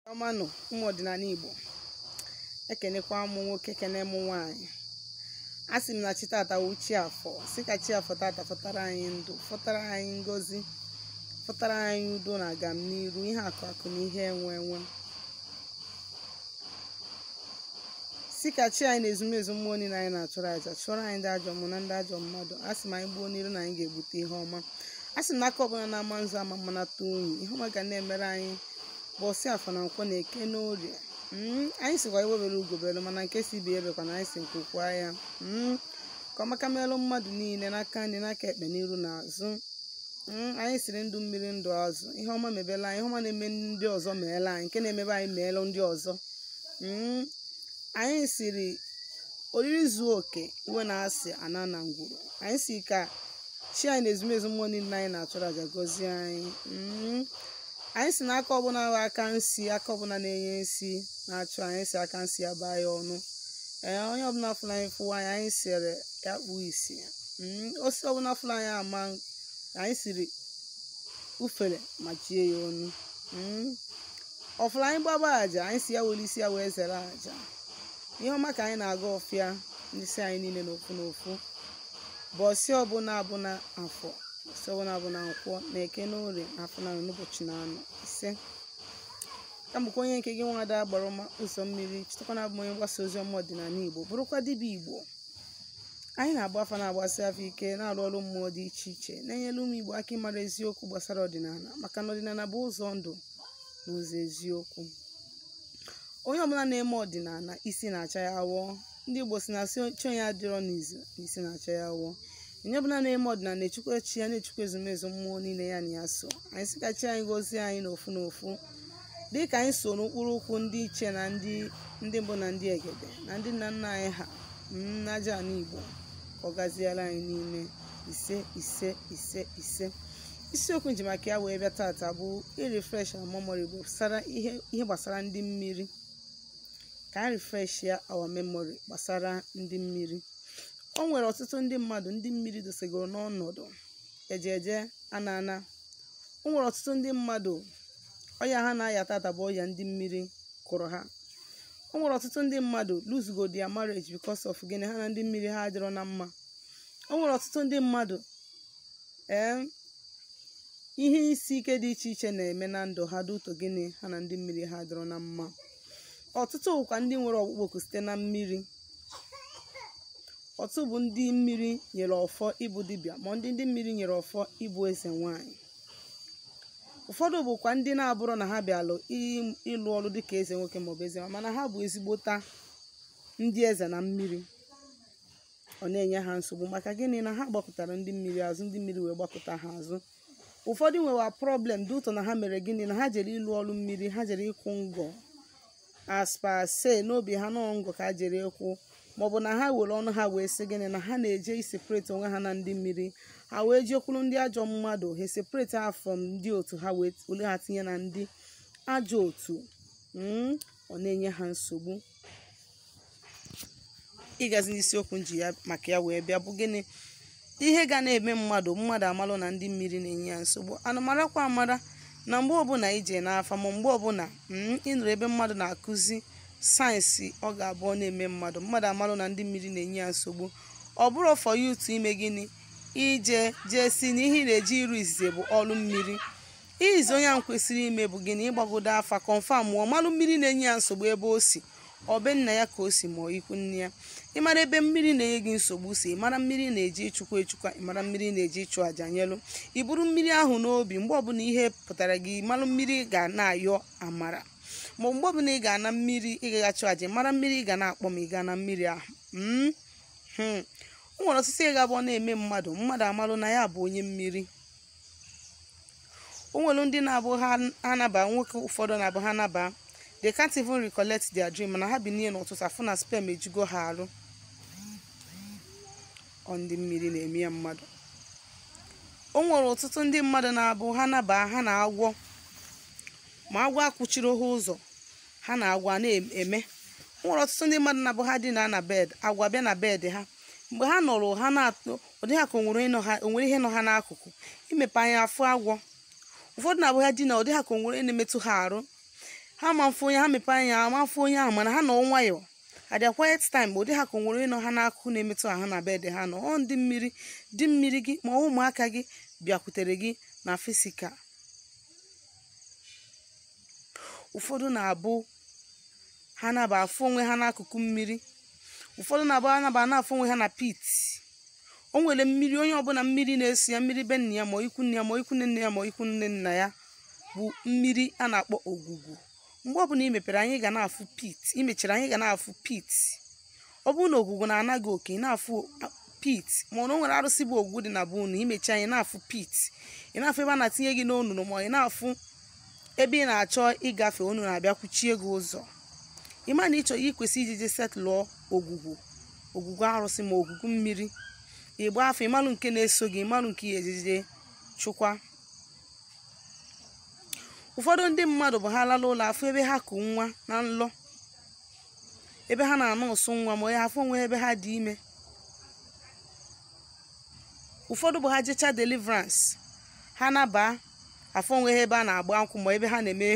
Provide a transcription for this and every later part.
ọma nụ ụmụ ọdịnala Igbo ekenekwa m nwoke kene m nwaanyị a sị m na chi tata wụ chi afọ sị ka chi afọ tata fọtara anyị ndụ fọtara anyị ngozi fọtara anyị udo na agam n'iru ihe akụ akụ na ihe enwe enwe sị ka chi anyị na ezumezu mmụọ niile anyị na-achụrụ aja chụọrọ anyị ndị ajọ mmụọ na ndị ajọ mmadụ a sị m anyị gbuo n'iru na anyị ga-egbute ihe ọma a sị m na aka ọbụla na-ama nzu ama mmanata unyi ihe ọma ga na-emere anyị bọsị afọ na nkwọ na eke na orie Mm, anyị sịkwa egbe bere ugo bere mana nke sị ibe ya ebekwana anyị sị nku kwaa ya Mm, ka ọmaka merụ mmadụ niile n'aka nri n'aka ekpe n'iru na azụ Mm, anyị sịrị ndụ mmiri ndụ azụ ihe ọma mebela anyị ihe ọma na-eme ndị ọzọ meela anyị nke na-emebe anyị meela ndị ọzọ Mm, anyị sịrị oriri zuo oke iwe na asị ana na ngwuru anyị sị ka chi anyị na ezumezu mmụọ niile anyị na-achụrụ aja gọzie anyị Mm, anyị sị na aka ọbụla bụ aka nsi aka ọbụla na-enye nsi na-achụ anyị sị aka nsi ya baa ya ọnụ ee onye ọbụla fụrụ anyị fụwa anyị anyị sịrị ya kpuo isi Mm, osisi ọbụla fụrụ anyị ama anyị sịrị ufere machie ya ọnụ Mm, ọ fụrụ anyị gbaba aja anyị sị ya were isi ya wee zere aja ihe ọma ka anyị na-agọ ọfọ ya dịsịrị anyị niile n'ofu n'ofu bọsị ọbụla abụna afọ sị ọbụna abụna nkwọ na eke na orie na afọ na n'ụbọchị na anọ ise ka m bụkwa onye nke gị nwada agbara ọma ụzọ mmiri chetakwa na abụ m onye mgbasa ozi ọma ọdịnala igbo bụrụkwa dibịa igbo anyị na-agba afa na-agbasi afa ike na-arụ ọrụ mmụọ dị iche iche na-enyere ụmụ igbo aka ịmara eziokwu gbasara ọdịnala maka na ọdịnala bụ ụzọ ndụ na ụzọ eziokwu onye ọbụla na-eme ọdịnala isi na-acha ya awọ ndị igbo sị na sị chi onye adịrọ n'izu na isi na-acha ya awọ onye ọbụla na-eme ọdịnala na-echukwa chi ya na-echukwa ezumezu mmụọ niile ya na ya so anyị sị ka chi anyị gozie anyị n'ofu n'ofu dị ka anyị so n'ụkpụrụ ụkwụ ndị ichie na ndị ndị mbụ na ndị egede na ndị nna nna anyị ha n'aja ala igbo ka ọ gaziere anyị niile ise ise ise ise isiokwu m ji maka ya wee bịa tata bụ irefresh our memory bụ gbasara ihe ihe gbasara ndị mmiri ka anyị refresh ya our memory gbasara ndị mmiri o nwere ọtụtụ ndị mmadụ ndị mmiri dosegoro n'ọnọdụ eje eje ana ana o nwere ọtụtụ ndị mmadụ ọya ha na-aya tata bụ ọya ndị mmiri kụrụ ha o nwere ọtụtụ ndị mmadụ losego their marriage because of gịnị ha na ndị mmiri ha adịrọ na mma o nwere ọtụtụ ndị mmadụ ee ihe isi ike dị iche iche na-eme na ndụ ha due to gịnị ha na ndị mmiri ha adịrọ na mma ọtụtụ bụkwa ndị nwere ọkpụkpọ oku site na mmiri ọtụtụ bụ ndị mmiri nyere ọfọ ịbụ dibịa ma ndị ndị mmiri nyere ọfọ ịbụ eze nwanyị ụfọdụ bụkwa ndị na-abụrọ na ha bịalụ ị- ịlụ ọrụ dịka eze nwoke maọbụ eze nwanyị mana ha bụ ezigbota ndị eze na mmiri ọ na-enye ha nsogbu maka gịnị na ha gbakụtara ndị mmiri azụ ndị mmiri wee gbakụta ha azụ ụfọdụ nwewa problem due to na ha mere gịnị na ha jere ịlụ ọrụ mmiri ha jere ịkwụ ngọ as per say n'obi ha na ọ ngọ ka ha jere ịkwụ maọbụ na ha were ọnụ ha wee sị gịnị na ha na-eje iseparate onwe ha na ndị mmiri ha wee jekwuru ndị ajọ mmadụ ha separate ha from ndị otu ha wee wolu ha tinye na ndị ajọ otu mm, ọ na-enye ha nsogbu ịgazi n'isiokwu m ji maka ya wee bịa bụ gịnị ihe ga na-eme mmadụ mmadụ amalụ na ndị mmiri na-enye ya nsogbu a na-amarakwa amara na mgbe ọbụla i je n'afa ma mgbe ọbụla mm, ị nụrụ ebe mmadụ na-akụzi signs ọ ga-abụ ọ na-eme mmadụ mmadụ amalụ na ndị mmiri na-enye ya nsogbu ọ bụrọ for you to ime gịnị ije jee sị na ihe ị na-eje ịrụ izizi bụ ọrụ mmiri ihe izizi onye ahụ kwesịrị ime bụ gịnị ịgbagodo afa confirmụọ malụ mmiri na-enye ya nsogbu ebe o si ọ be nna ya ka o si ma ọ ikwu nne ya ịmara ebe mmiri na-enye gị nsogbu si ịmara mmiri ị na-eje ịchụkwa ịchụkwa ịmara mmiri ị na-eje ịchụ àjà nyelụ i buru mmiri ahụ n'obi mgbe ọbụla ị pụtara gị malụ mmiri ga na-ayọ amara ma mgbe ọbụla ị ga na mmiri ị ga-achụ àjà mara mmiri ị ga na-akpọ ma ị ga na mmiri ahụ mm? hmm. o nwere ọtụtụ ihe ga-abụ ọ na-eme mmadụ mmadụ amalụ na ya bụ onye mmiri o nwere ndị na-abụ ha naba nwoke ụfọdụ na-abụ ha naba they can't even recollect their dream mana ha binie n'ụtụtụ afụ na sperm ejugo ha arụ ọ ndị mmiri na-eme ya mmadụ o nwere ọtụtụ ndị mmadụ na-abụ ha naba ha na agwọ ma agwọ akwụchiri ha ụzọ ha na agwọ na-eme o nwere ọtụtụ ndị mmadụ na-abụ ha dina na bed agwọ bịa na bed ha mgbe ha nọrọ ha na-atụ ọ dị ha ka o nwere ihe nọ ha n'akụkụ i mepe anya afụ agwọ ụfọdụ na-abụ ha dina ọ dị ha ka o nwere onye na-emetụ ha arụ ha ama afụ onye ha mepe anya ama afụ onye ahụ mana ha nọ nwayọọ at their quiet time ọ dị ha ka o nwere onye nọ ha n'akụkụ na-emetụ ha na bed ha nọ ọ ndị mmiri di mmiri gị ma ụmụaka gị bịakwutere gị na physical ụfọdụ na-abụ ha naba afụ onwe ha n'akụkụ mmiri ụfọdụ na-abụ ha naba na-afụ onwe ha na pit o nwere mmiri onye ọbụla mmiri na-eso ya mmiri be nna ya ma ikwu nne ya ma ikwu nne nne ya ma ikwu nne nna ya bụ mmiri a na-akpọ ogwugwu mgbe ọbụla i mepere anya ị ga na-afụ pit i mechiri anya ị ga na-afụ pit ọ bụrụ na ogwugwu na-ana gị oke ị na-afụ pit ma ọ na o nwere arụsị bụ ogwugwu dị na be unu i mechi anya ị na-afụ pit ị na-afụ ebe a na-atinye gị n'onunu ma ị na-afụ ebe ị na-achọ ịgafe onunu abịa kwuchie gị ụzọ ị ma na ị chọ ị kwesị iji je setụlụọ ogwugwu ogwugwu arụsị ma ogwugwu mmiri ị gba afa ịmalụ nke na-eso gị ịmalụ nke ya ejije chụkwa ụfọdụ ndị mmadụ bụ ha lala ụla afụ ebe ha ku nwa na nlọ ebe ha na-anurse nwa ma onye afụ onwe ebe ha dị ime ụfọdụ bụ ha jecha deliverance ha nabaa afụ onwe ha ebe a na-agba nkwụ ma ebe ha na-eme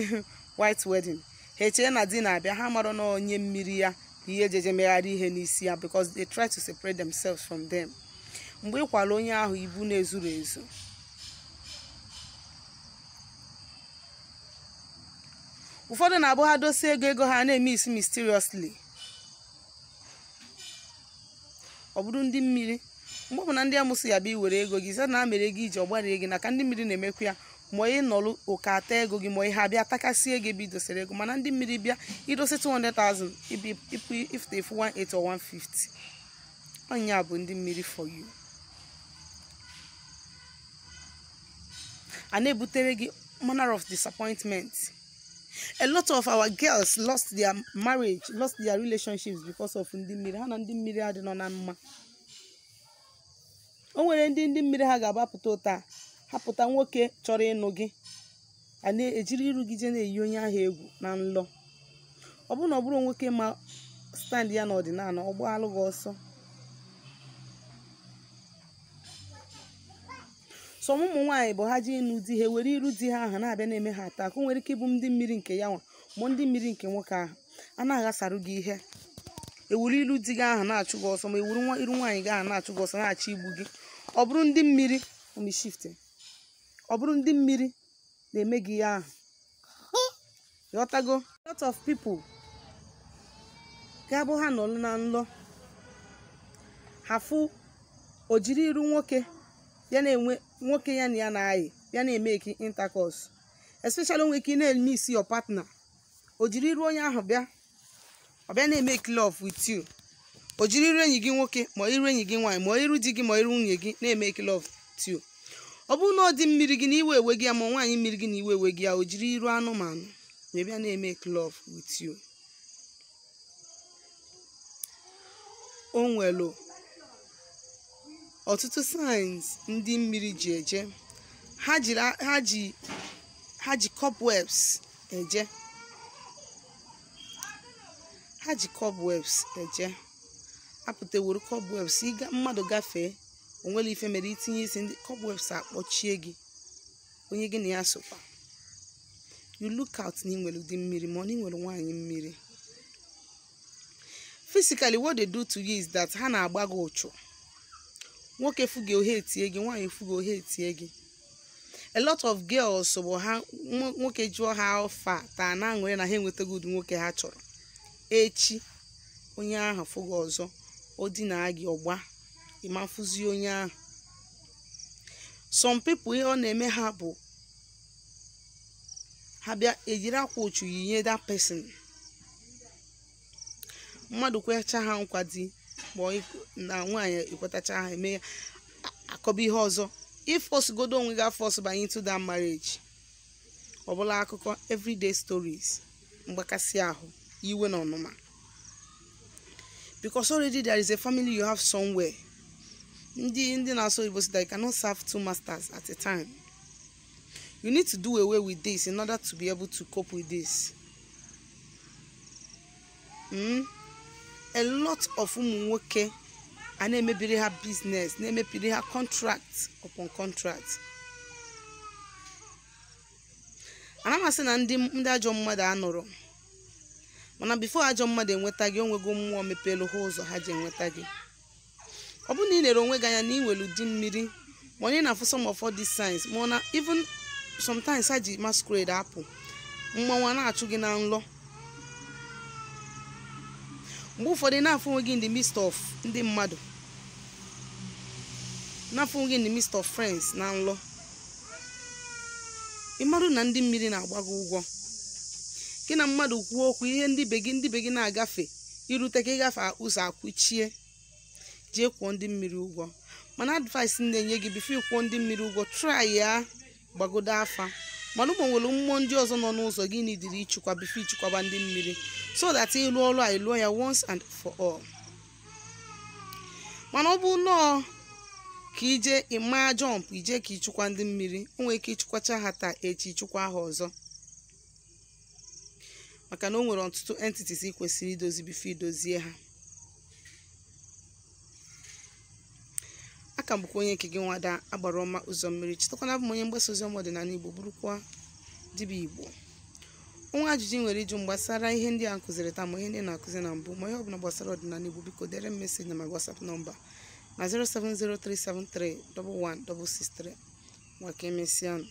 white wedding ha echee na di na-abịa ha mara na onye mmiri ya ihe ejeje megharị ihe n'isi ya because they try to separate themselves from them mgbe ị kwara onye ahụ ibu na-ezuru ezu ụfọdụ na-abụ ha dosie ego ego ha na-emiss mysteriously ọ bụrụ ndị mmiri mgbe ọbụla ndị amosu ya-abịa iwere ego gị zana mere gị iji ọgbarie gị na ka ndị mmiri na-emekwa ya ma ị nọrụ ụka ata ego gị ma ihe abịa takasịa ego ebe i dosere ego mana ndị mmiri bịa i dosie 200,000 ibi ipu ifute efu 180 or 150 ọ nya bụ ndị mmiri for you a na-ebutere gị manner of disappointment a lot of our girls lost their marriage lost their relationships because of ndị mmiri ha na ndị mmiri adịrọ na mma o nwere ndị ndị mmiri ha ga-agbapụta ụta ha pụta nwoke chọrọ ịnụ gị a na-ejiri iru gị je na-eyi onye ahụ egwu na nlọ ọ bụrụ na ọ bụrọ nwoke ma stand ya n'ọdịnala ọ gbaalụ gị ọsọ so ụmụ nwaanyị bụ ha je ịnụ di ha were iru di ha ahụ na-abịa na-eme ha attack o nwere ike ịbụ ndị mmiri nke ya nwa ma ndị mmiri nke nwoke ahụ a na-aghasarụ gị ihe ewuru iru di gị ahụ na-achụ gị ọsọ ma ewuru nwa iru nwaanyị gị ahụ na-achụ gị ọsọ na-achọ igbu gị ọ bụrụ ndị mmiri omishifte ọ bụrụ ndị mmiri na-eme gị ihe ahụ ghọtago lot of people ga-abụ ha nọlụ na nlọ ha afụ o jiri iru nwoke ya na-enwe nwoke ya na ya na-ayị ya na-emeki intercourse especially o nwe ike ị na-emiss your partner o jiri iru onye ahụ bịa ọ bịa na-emeki love with you o jiri iru enyi gị nwoke ma iru enyi gị nwaanyị ma iru di gị ma iru nwunye gị na-emeki love with you ọ bụrụ na di mmiri gị na iwe ewego ya ma nwaanyị mmiri gị na iwe ewego ya o jiri iru anụmanụ wee bịa na-emeki love with you o nwere ọtụtụ signs ndị mmiri ji eje ha ji ha ji cobwebs eje ha ji cobwebs eje apụta were cobwebs ịga mmadụ gafee o nwerọ ife mere i tinye isi ndị cobwebs akpọchie gị onye gị na ya sokwa you look out na ị nwere di mmiri ma ọ na ị nwere nwaanyị mmiri physically what they do to you is that ha na-agba gị uchu nwoke fụ gị o hetie gị nwaanyị fụ gị o hetie gị a lot of girls bụ ha nwo- nwoke jụọ ha how far taa na-aṅụrị na ha enwetago ụdị nwoke ha chọrọ echi onye ahụ fụ gị ọzọ o dinaa gị ọ gbaa ị ma afụzi onye ahụ some people ihe ọ na-eme ha bụ ha bịa ejiri akwa uchu yinye that person mmadụ kwecha ha nkwa di ma ọ ikwe- na nwaanyị ekwetacha ha eme ya a- akọba ihe ọzọ ị fọsgodo onwe gị afọs banye into that marriage ọ bụlụ akụkọ everyday stories mgbakasị ahụ iwe na ọnụma because already there is a family you have somewhere ndị ndị na-asụ oyibo sị that you cannot serve two masters at a time you need to do away with this in order to be able to cope with this mm? a lot of ụmụ nwoke a na-emebiri ha business na-emebiri ha contract upon contract ana m asị na ndị ndị ajọ mmadụ anọrọ mana bifo ajọ mmadụ enweta gị o nwego mmụọ mepeelu ha ụzọ ha ji enweta gị ọ bụrụ na ị lere onwe gị anya na ị nwere di mmiri ma ọ na ị na-afụ some of all these signs ma ọ na even sometimes ha ji masquerade apụ mmanwụ a na-achụ gị na nlọ mgbe ụfọdụ ị na-afụ onwe gị in the midst of ndị mmadụ na-afụ onwe gị in the midst of friends na nlọ ị marụ na ndị mmiri na-agba gị ụgwọ gị na mmadụ kwuo okwu ihe ndị ibe gị ndị ibe gị na-agafe i rute ka ị gafee ụzọ akwụchie jee kwụọ ndị mmiri ụgwọ mana advice m na-enye gị bifo ị kwụọ ndị mmiri ụgwọ try ya gbagodo afa mara ma o nwere mmụọ ndị ọzọ nọ n'ụzọ gị nidiri ịchịkwa bifo ị chịkwaba ndị mmiri so that ị lụ ọrụ a ị lụọ ya once and for all mana ọ bụ nọọ ka ije ịma jọmp ije ka ịchịkwa ndị mmiri o nwere ike ị chịkwacha ha taa echi ị chịkwa ha ọzọ maka na o nwere ọtụtụ entities ị kwesịrị idozi before i dozie ha a ka m bụkwa onye nke gị nwada agbara ọma ụzọ mmiri chetakwa na abụ m onye mgbasa ozi ọma ọdịnala igbo bụrụkwa dibịa igbo o nwee ajụjụ i nwere ịjụ m gbasara ihe ndị a m kụziri taa ma ihe ndị m na-akụzi na mbụ ma ihe ọbụla gbasara ọdịnala igbo biko dere m message na my WhatsApp number na 07037311663 ngwa ka emesịa